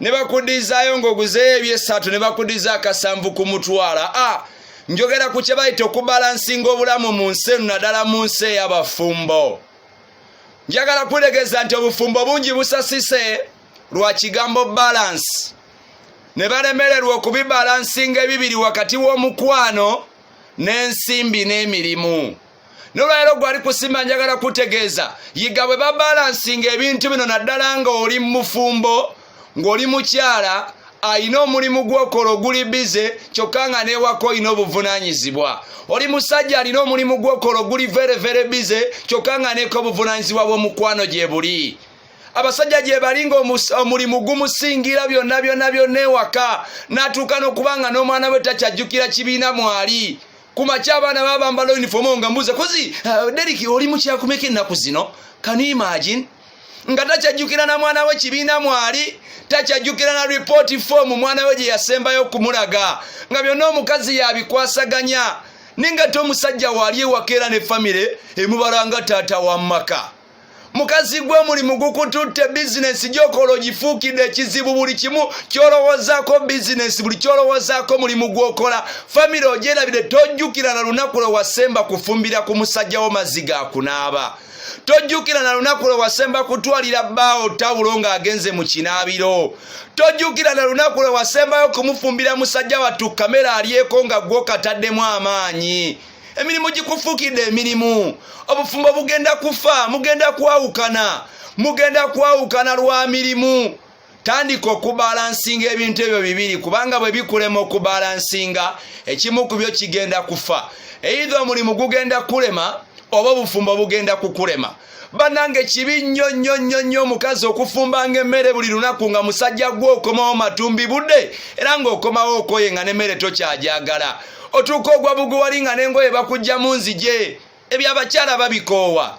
ne bakudizaayo ng'oguzeeyo ebyessatu ne bakudiza akasanvu ku mutwala a ah, njogera ku kye bayita okubalansinga obulamu mu nsi eno naddala mu nsi ey'abafumbo njagala kulegeza nti obufumbo bungi busasise lwa kigambo balansi ne balemererwa okubibalansinga ebibiri wakati w'omukwano n'ensimbi n'emirimu nolwalero gwali kusimba njagala kutegeeza yiga bwe babalansinga ebintu bino naddala nga oli mufumbo ng'oli mukyala alina omulimu gwokola oguli bize kyokka nga newako olina obuvunanyizibwa oli musajja alina omulimu gwokola oguli verevere bize kyokka nga neko obuvunanyizibwa bwomukwano gyebuli abasajja gyebali nga omulimu gumusingira byonna byonna byonna ewaka natuuka nokuba nga n'omwana we takyajjukira kibiina mwali kumakya abaana babambala unifomu nga mbuuza kozi uh, deriki oli mukyakumeka ennaku zino can you imagine nga takyajjukira na mwana we kibiina mwali takyajjukira na ripooti foomu mwana we gye yasembayo okumulaga nga byonna omukazi yabikwasaganya ninga te omusajja waali ewaka era ne famire emubalanga taata wa maka mukazi gwe omulimu gukututte bizinesi gyokola ogifuukidde ekizibu buli kimu kyolowoozaako bizinesi buli kyolowoozaako mulimu gwokola famire ogyerabire tojjukira na lunaku lwe wasemba kufumbira ku musajja wo mazzi ga kunaaba tojjukira na lunaku lwe wasemba kutwalira bbaawo tawulo ng'agenze mu kinaabiro tojjukira na lunaku lwe wasembayo kumufumbira musajja wattu kamera alyeko nga gwokataddemu amaanyi emirimu gikufuukidde emirimu obufumbo bugenda kufa mugenda kwawukana mugenda kwawukana lwa mirimu tandika okubalansinga ebintu ebyo bibiri kubanga bwe bikulema okubalansinga ekimu ku byo kigenda kufa eitha omulimu gugenda kulema oba obufumbo bugenda kukulema banange kibi nnyo nnyo nnyo nnyo omukazi okufumbanga emmere buli lunaku nga musajja gwe okomawo matumbi budde era ng'okomawo okoye nga n'emmere tokyajagala otuuka ogwa buguwali nga n'engoye bakujja mu nzije ebyo abakyala babikoowa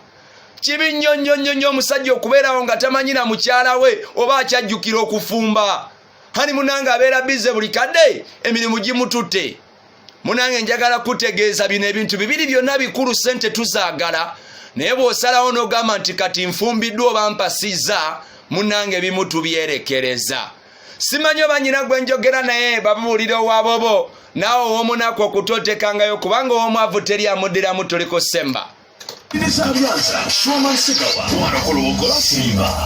kibi nnyo nnyo nnyo nnyo omusajja okubeerawo nga tamanyi na mukyala we oba akyajjukira okufumba hani munange abeera bize buli kadde emirimu gimututte munange njagala kutegeeza bino ebintu bibiri byonna bikulu sente tuzaagala naye bw'osalawo n'ogamba nti kati nfumbiddwa oba mpasizza munange bimu tubyerekereza simanyi oba nyina gwe njogera naye babuulira owabobo naawe ow'omunaku okutotekangayo kubanga ow'omwavu teri amuddiramu tuli ku semba Nizamyanza, Shwama Nsigawa, Mwana Koloboko, Simba.